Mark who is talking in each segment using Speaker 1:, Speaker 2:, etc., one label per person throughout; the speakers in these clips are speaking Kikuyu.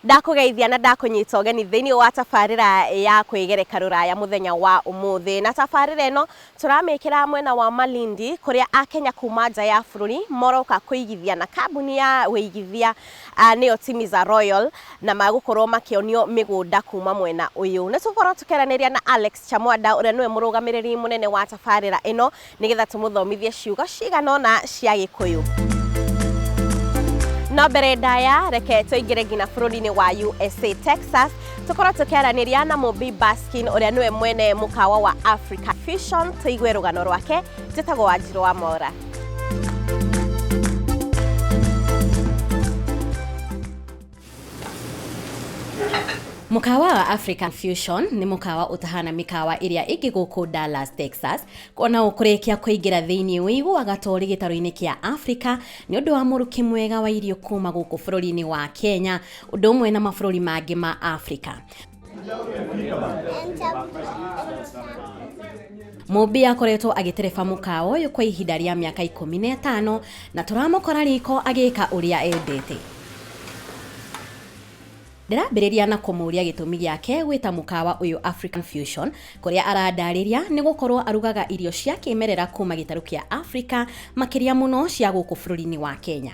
Speaker 1: ndakũgeithia na ndakũnyita ũgeni thĩinĩ wa tabarĩra ya kwĩgereka rũraya mũthenya wa ũmũthĩ na tabarĩra ĩno Tũramĩkĩra mwena wa Malindi kũrĩa Akenya kuuma nja ya bũrũri moroka kũigithia na kambuni ya ũigithia nĩyo Timiza Royal na magũkorwo makĩonio mĩgũnda kuuma mwena ũyũ. Nĩ tũgũkorwo tũkĩaranĩria na Alex Chamwada ũrĩa nĩwe mũrũgamĩrĩri mũnene wa tabarĩra ĩno nĩgetha tũmũthomithie ciugo cigana ũna cia Gĩkũyũ. No mbere ndaya reke tũingĩre nginya bũrũri-inĩ wa USA, Texas tukorwo tukiaraniria na mubi baskin uria niwe mwene mukawa wa africa fusion tuigue rugano rwake njitagwo wanjiru wa mora Mukawa wa African Fusion nĩ mukawa ũtahana mĩkawa ĩrĩa ĩngĩ gũkũ Dallas, Texas. Ona ũkũrĩkia kũingĩra thĩinĩ ũiguaga ta ũrĩ gĩtarũ-inĩ kĩa Africa nĩ ũndũ wa mũrukĩ mwega wa irio kuma gũkũ bũrũri-inĩ wa Kenya. ũndũ ũmwe na mabũrũri mangĩ ma Afrika. Mũmbi akoretwo agĩtereba mũkawa ũyũ kwa ihinda rĩa mĩaka ikũmi na ĩtano na tũramũkora riko agĩka ũrĩa endete. Ndĩrambĩrĩria na kũmũria gĩtũmi gĩake gwĩta mũkawa ũyũ African Fusion kũrĩa arandarĩria nĩ gũkorwo arugaga irio cia kĩmerera kuma gĩtarũ kĩa Africa makĩria mũno cia gũkũ bũrũri-inĩ wa Kenya.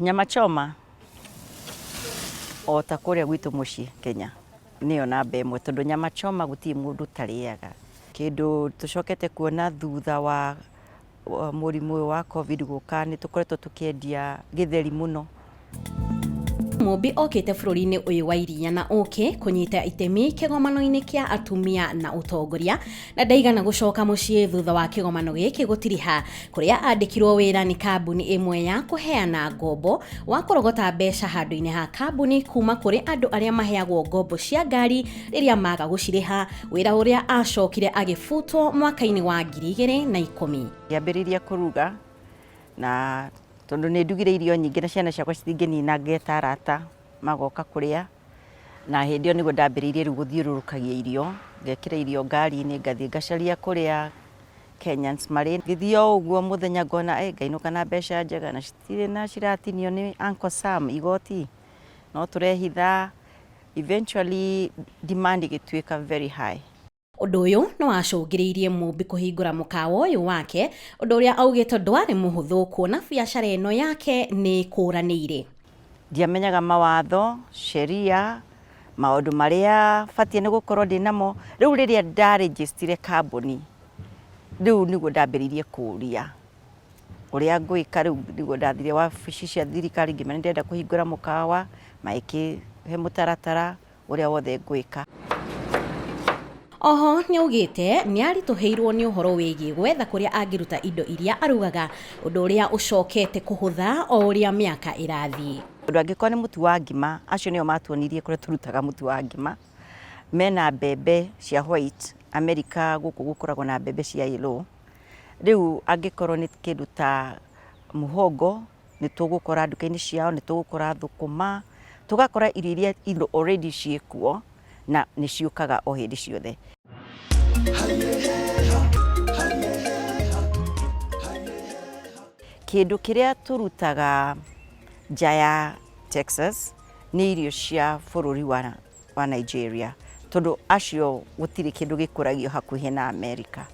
Speaker 2: Nyama choma o ta kũrĩa gwitũ mũciĩ Kenya nĩyo namba ĩmwe tondũ nyama choma gũtirĩ mũndũ ũtarĩaga. Kĩndũ tũcokete kuona thutha wa wa mũrimũ ũyũ wa covid gũka nĩ tũkoretwo tũkĩendia gĩtheri mũno.
Speaker 1: Mũmbi okĩte bũrũri-inĩ ũyũ wa iria na ũkĩ kũnyita itemi kĩgomano-inĩ kĩa atumia na ũtongoria na ndaigana gũcoka mũciĩ thutha wa kĩgomano gĩkĩ gũtiriha kũrĩa andĩkirwo wĩra nĩ kambuni ĩmwe ya kũheana ngombo wa kũrogota mbeca handũ-inĩ ha kambuni kuma kũrĩ andũ arĩa maheagwo ngombo cia ngari rĩrĩa maga gũcirĩha wĩra ũrĩa acokire agĩbutwo mwaka-inĩ wa ngiri igĩrĩ na ikũmi ngĩambĩrĩria
Speaker 2: kũruga na tondũ nĩ ndugire irio nyingĩ na ciana ciakwa citingĩnina ngeta arata magoka kũrĩa Na hĩndĩ ĩyo nĩguo ndambĩrĩirie rĩu gũthiũrũrũkagia irio, ngekĩra irio ngari-inĩ ngathiĩ ngacaria kũrĩa Kenyans marĩ. Ngĩthiĩ o ũguo mũthenya ngona ĩ ngainũka na mbeca njega na citirĩ na ciratinio nĩ Uncle Sam igoti, no tũrehitha, eventually demand ĩgĩtuĩka very high. Ũndũ ũyũ
Speaker 1: nĩ wacũngĩrĩirie Mũmbi kũhingũra mũkawa ũyũ wake, ũndũ ũrĩa augĩte ndwarĩ mũhũthũ kuona biacara ĩno yake nĩ ĩkũranĩire. Ndiamenyaga
Speaker 2: mawatho, sheria, maũndũ marĩa batiĩ nĩ gũkorwo ndĩ namo. Rĩu rĩrĩa nda register kambuni, rĩu nĩguo ndambĩrĩirie kũũria ũrĩa ngwĩka. Rĩu nĩguo ndathire wabici cia thirikari ngĩmera nĩ ndĩrenda kũhingũra mũkawa, magĩkĩhe mũtaratara ũrĩa wothe ngwĩka. Oho
Speaker 1: nĩaugĩte nĩaritũhĩirwo nĩ ũhoro wĩgiĩ gwetha kũrĩa angĩruta indo iria arugaga, ũndũ ũrĩa ũcokete kũhũtha o ũrĩa mĩaka ĩrathiĩ. Tondũ angĩkorwo nĩ mũtu
Speaker 2: wa ngima, acio nĩo matuonirie kũrĩa tũrutaga mũtu wa ngima, mena mbembe cia white, America gũkũ gũkoragwo na mbembe cia yellow, rĩu angĩkorwo nĩ kĩndũ ta mũhongo. nĩ tũgũkora nduka-inĩ ciao, nĩ tũgũkora thũkũma, tũgakora irio iria indo already ciĩ kuo na nĩ ciũkaga o hĩndĩ ciothe. Kĩndũ kĩrĩa tũrutaga nja ya Texas nĩ irio cia bũrũri wa wa Nigeria tondũ acio gũtirĩ kĩndũ gĩkũragio hakuhĩ na Amerika.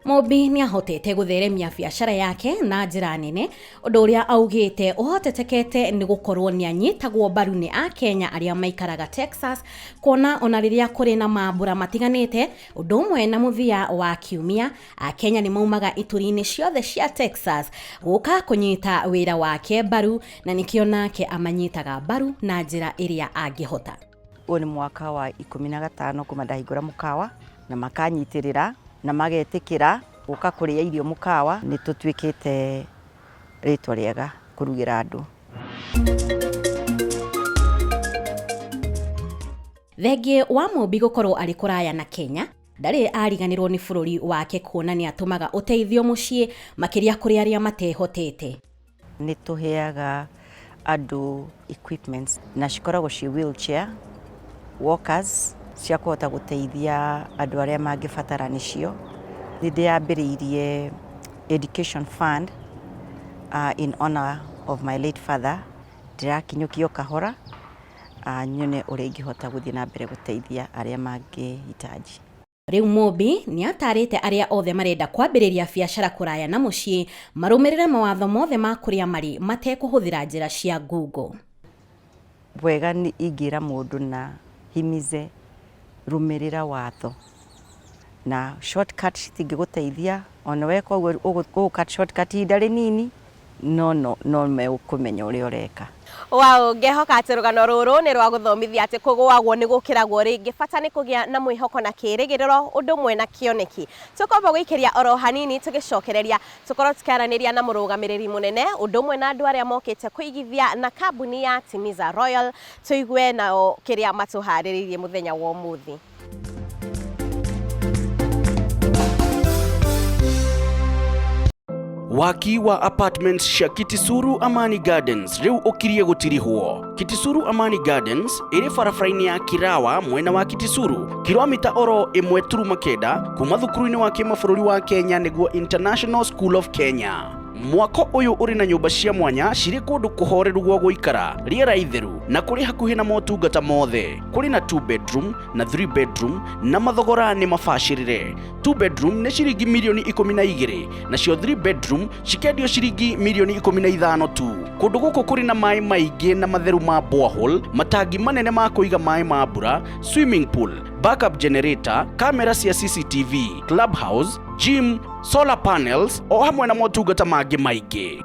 Speaker 1: Mũmbi nĩ ahotete gũtheremia biacara yake na njĩra nene, ũndũ ũrĩa augĩte ũhotetekete nĩ gũkorwo nĩ anyitagwo mbaru nĩ Akenya arĩa maikaraga Texas, kuona ona rĩrĩa kũrĩ na mambura matiganĩte, ũndũ ũmwe na mũthia wa kiumia, akenya nĩ maumaga ituri-inĩ ciothe cia texas gũka kũnyita wĩra wake mbaru na nĩkĩo nake amanyitaga mbaru na njĩra ĩrĩa angĩhota ũyũ nĩ mwaka
Speaker 2: wa ikũmi na gatano kuma ndahingũra mũkawa na makanyitĩrĩra na magetĩkĩra gũka kũrĩa irio mũkawa nĩ tũtuĩkĩte rĩtwa rĩega kũrugĩra andũ
Speaker 1: thengiĩ wa mũmbi gũkorwo arĩ kũraya na kenya Ndarĩ ariganĩrwo nĩ bũrũri wake kuona nĩ atũmaga ũteithio mũciĩ makĩria kũrĩ arĩa matehotete. Nĩ
Speaker 2: tũheaga andũ equipments na cikoragwo ciĩ wheelchair, walkers cia kũhota gũteithia andũ arĩa mangĩbatara nĩcio. Nĩ ndĩambĩrĩirie education fund uh, in honor of my late father ndĩrakinyũkio kahora nyone ũrĩa ingĩhota gũthiĩ na mbere gũteithia arĩa mangĩhitaji. Rĩu Mũmbi
Speaker 1: nĩ ataarĩte arĩa othe marenda kwambĩrĩria biacara kũraya na mũciĩ marũmĩrĩre mawatho mothe ma kũrĩa marĩ matekũhũthĩra njĩra cia ngungo.
Speaker 2: Wega ingĩra mũndũ na himize rũmĩrĩra watho. na short cut citingĩgũteithia, ona weka ũguo ũgũ cut short cut ihinda rĩnini no no no megũkũmenya ũrĩa ũreka. Wow, ngehoka
Speaker 3: atĩ rũgano rũrũ nĩ rwa gũthomithia atĩ kũgũagwo nĩ gũkĩragwo rĩngĩ. Bata nĩ kũgĩa na mwĩhoko na kĩĩrĩgĩrĩro ũndũ ũmwe na kĩoneki. Tũkwamba gũikĩria oro hanini tũgĩcokereria, tũkorwo tũkĩaranĩria na mũrũgamĩrĩri mũnene ũndũ ũmwe na andũ arĩa mokĩte kũigithia na kambuni ya Timiza Royal, tũigue nao kĩrĩa matũharĩrĩirie mũthenya wa ũmũthĩ.
Speaker 4: waki wa apartments cia kitisuru amani gardens riu ukirie gutirihwo kitisuru amani gardens iri barabara-inĩ ya kirawa mwena wa kitisuru kilomita oro ĩmwe turuma kenda kuma thukuru-inĩ wa kĩmabũrũri wa kenya nĩguo international school of kenya Mwako ũyũ ũrĩ na nyũmba cia mwanya cirĩ kũndũ kũhoreru gwa gũikara, rĩera itheru na kũrĩ hakuhĩ na motungata mothe. Kũrĩ na two bedroom na three bedroom na mathogora nĩ mabacĩrĩre. Two bedroom nĩ ciringi mirioni ikũmi na igĩrĩ nacio three bedroom cikendio ciringi mirioni ikũmi na ithano tu. Kũndũ gũkũ kũrĩ na maĩ maingĩ na matheru ma borehole, matangi manene ma kũiga maĩ ma mbura, swimming pool, backup generator, kamera cia CCTV, clubhouse, gym, solar panels o hamwe na motungata mangĩ maingĩ.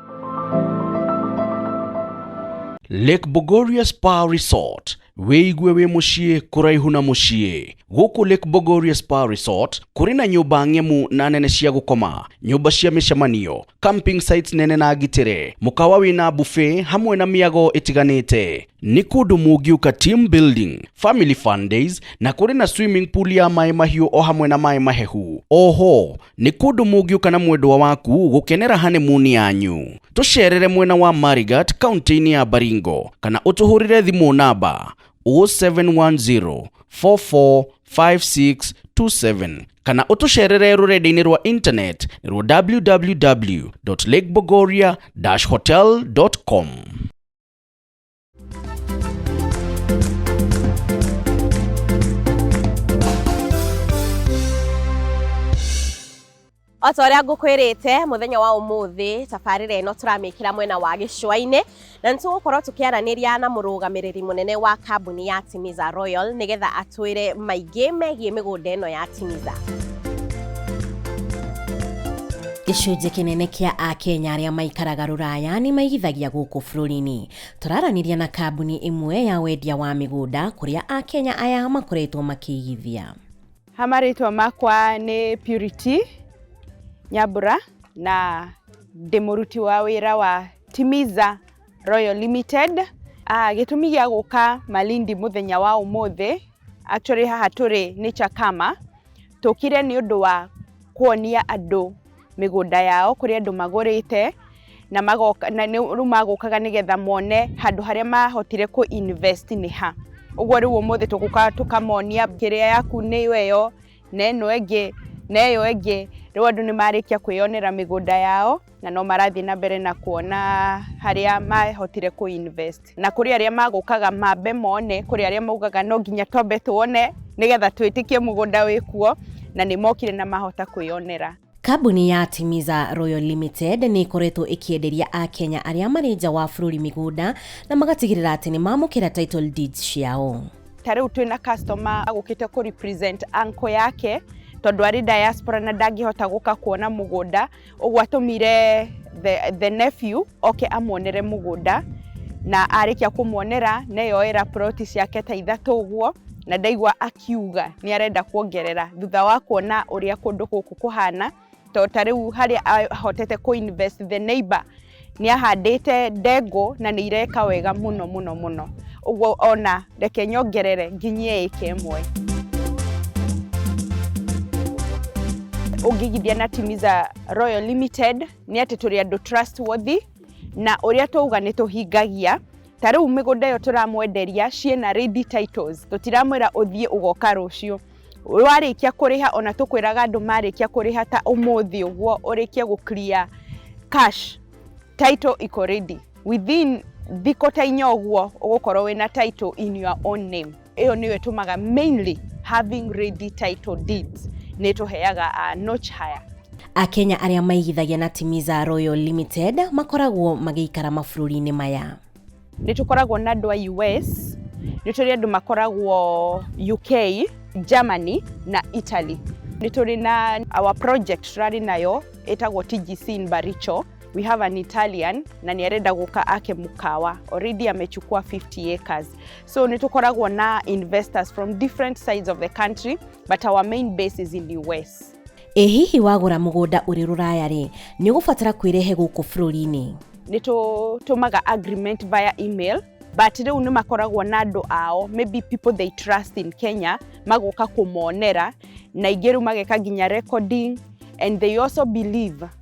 Speaker 4: Lake Bogoria Spa Resort wĩigue wĩ mũciĩ kũraihu na mũciĩ gũkũ Lake Bogoria Spa Resort kũrĩ na nyũmba ng'emu na nene cia gũkoma nyũmba cia mĩcemanio camping sites nene na ngitĩre mũkawa wĩna buffet hamwe na mĩago ĩtiganĩte nĩ kũndũ mũngiũka team building family fun days na kũrĩ na swimming pool ya maĩ mahiũ o hamwe na maĩ mahehu oho nĩ kũndũ mũngiũka na mwendwa waku gũkenera honeymoon yanyu tũcerere mwena wa marigat kaunti-inĩ ya baringo kana ũtũhũrĩre thimũ namba 0710 445627 kana ũtũcerere rũrenda-inĩ rwa internet rwa www.lakebogoria-hotel.com
Speaker 3: o ta ũrĩa ngũkwĩrĩte mũthenya wa ũmũthĩ tabarĩra ĩno tũramĩkĩra mwena wa gĩcũa-inĩ na nĩ tũgũkorwo tũkĩaranĩria na mũrũgamĩrĩri mũnene wa kambuni ya Timiza Royal nĩgetha atwĩre maingĩ megiĩ mĩgũnda ĩno ya Timiza.
Speaker 1: gĩcunjĩ kĩnene kĩa akenya arĩa maikaraga rũraya nĩ maigithagia gũkũ bũrũri-inĩ tũraranĩria na kambuni ĩmwe ya wendia wa mĩgũnda kũrĩa akenya aya makoretwo makĩigithia ha marĩtwa
Speaker 5: makwa nĩ purity nyambura na ndĩ mũruti wa wĩra wa timiza royal limited ah, gĩtũmi gĩa gũka malindi mũthenya wa ũmũthĩ Actually haha tũrĩ nĩ Chakama, tũkire nĩ ũndũ wa kuonia andũ mĩgũnda yao kũrĩ andũ magũrĩte na magoka na nĩ rĩu magũkaga nĩgetha mone handũ harĩa mahotire kũ invest nĩ ha. Ũguo rĩu ũmũthĩ tũgũka tũkamonia kĩrĩa yaku nĩyo ĩyo, na ĩno ĩngĩ, na ĩyo ĩngĩ. Rĩu andũ nĩ marĩkia kwĩyonera mĩgũnda yao, na no marathiĩ na mbere na kuona harĩa mahotire kũ invest. Na kũrĩ arĩa magũkaga mambe mone, kũrĩ arĩa maugaga no nginya twambe tuone, nĩgetha twĩtĩkie mũgũnda wĩkuo, na nĩ mokire na mahota kwĩyonera. Kambuni ya
Speaker 1: Timiza Royal Limited nĩ ĩkoretwo ĩkĩenderia Akenya arĩa marĩ nja wa bũrũri mĩgũnda na magatigĩrĩra atĩ nĩ mamũkĩra title deeds ciao. Ta rĩu twĩ na
Speaker 5: customer agũkĩte kũ represent uncle yake tondũ arĩ diaspora na ndangĩhota gũka kuona mũgũnda, ũguo atũmire the, the nephew oke amuonere mũgũnda na arĩkia kũmuonera neyoera plot ciake ta ithatũ ũguo na ndaigua akiuga nĩ arenda kuongerera thutha wa kuona ũrĩa kũndũ gũkũ kũhana to ta rĩu harĩa ahotete kũ invest the neighbor nĩ ahandĩte ndengũ na nĩ ireka wega mũno mũno mũno ũguo ona reke nyongerere nginyia ĩka ĩmwe ũngĩigithia na Timiza Royal Limited nĩ atĩ tũrĩ andũ trustworthy na ũrĩa twauga nĩ tũhingagia ta rĩu mĩgũnda ĩyo tũramwenderia ciĩna ready titles tũtiramwĩra ũthiĩ ũgoka rũciũ warĩkia kũrĩha ona tũkwĩraga andũ marĩkia kũrĩha ta ũmũthĩ ũguo ũrĩkie gũ clear cash title iko ready within thikũ ta inya ũguo ũgũkorwo wĩna title in your own name Ĩyo nĩyo ĩtũmaga mainly having ready title deeds nĩ ĩtũheaga a notch higher. Akenya arĩa
Speaker 1: maigithagia na Timiza Royal Limited makoragwo magĩikara mabũrũri-inĩ maya. Nĩ tũkoragwo
Speaker 5: na andũ a US, nĩ tũrĩ andũ makoragwo UK, Germany na Italy. Nĩ tũrĩ na our project tũrarĩ nayo ĩtagwo TGC in Baricho. We have an Italian na nĩ arenda gũka ake mũkawa already amechukua 50 acres so nĩ tũkoragwo na investors from different sides of the country but our main base is in US Ĩ hihi wagũra
Speaker 1: mũgũnda ũrĩ rũraya rĩ, nĩ ũgũbatara kwĩrehe gũkũ bũrũri-inĩ? nĩ
Speaker 5: tũtũmaga agreement via email but rĩu nĩ makoragwo na andũ ao maybe people they trust in Kenya magoka kũmonera na ingĩ rĩu mageka nginya recording and they also believe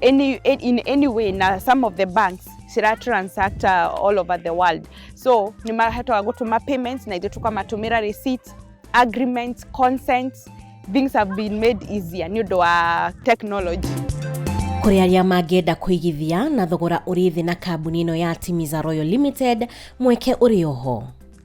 Speaker 5: any, in any way na some of the banks cira transact uh, all over the world so nä mahatoga gå tå ma payments na ithuä tå kamatå mä ra receipt agreements consents things have been made easier nä å ndå wa technology kũrĩ
Speaker 1: arĩa mangĩenda kũigithia na thogora ũrĩ thĩ na kambuni ĩno ya Timiza Royal Limited mweke ũrĩ oho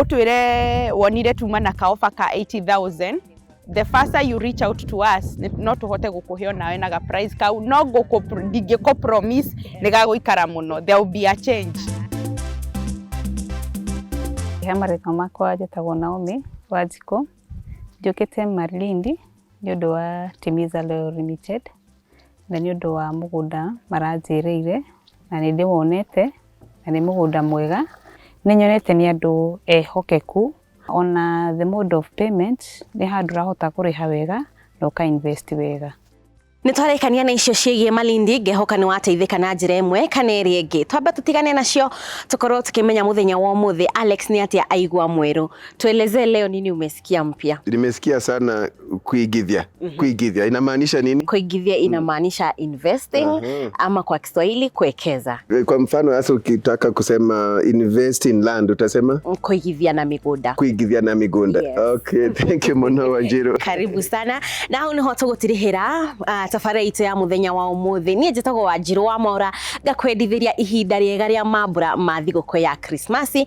Speaker 5: utwire wonire tuma na kaofa ka 80000 the faster you reach out to us ni- no tuhote gukuhe onawe na ga price kau no guku ndingiko promise ni gaguikara muno there will be a change
Speaker 6: he marĩtwa makwa njĩtagwo Naomi Wanjikũ njũkĩte Malindi nĩ ũndũ wa Timiza Loyal Limited na nĩ ũndũ wa mũgũnda maranjĩrĩire na nĩ ndĩwonete na nĩ mũgũnda mwega. Nĩ nyonete nĩ andũ ehokeku ona the mode of payment nĩ handũ ũrahota kũrĩha wega na ũka invest wega. Nĩ twarekania
Speaker 3: na icio ciĩgiĩ Malindi, ngehoka nĩ wateithĩka na njĩra ĩmwe kana ĩrĩa ĩngĩ. Twambe tũtigane nacio tũkorwo tũkĩmenya mũthenya wa ũmũthĩ Alex nĩ atĩa aigua mwerũ. Tuelezee leo nini umesikia. kia mpya. Nimesikia sana
Speaker 7: kuigithia. Kuigithia inamaanisha nini? Kuigithia inamaanisha
Speaker 3: investing Aha. ama kwa Kiswahili kuwekeza, Kwa mfano hasa
Speaker 7: ukitaka kusema invest in land utasema kuigithia na
Speaker 3: migunda. kuigithia na migunda.
Speaker 7: Yes. Okay, thank you Mono Wanjiru. karibu sana
Speaker 3: na hau niho tũgũtirĩhĩra uh, tabarĩra itũ ya mũthenya wa ũmũthĩ niĩ njĩtagwo wanjirũ wa mora ngakwendithĩria ihinda rĩega rĩa mambura ma thigũkũ ya krismasi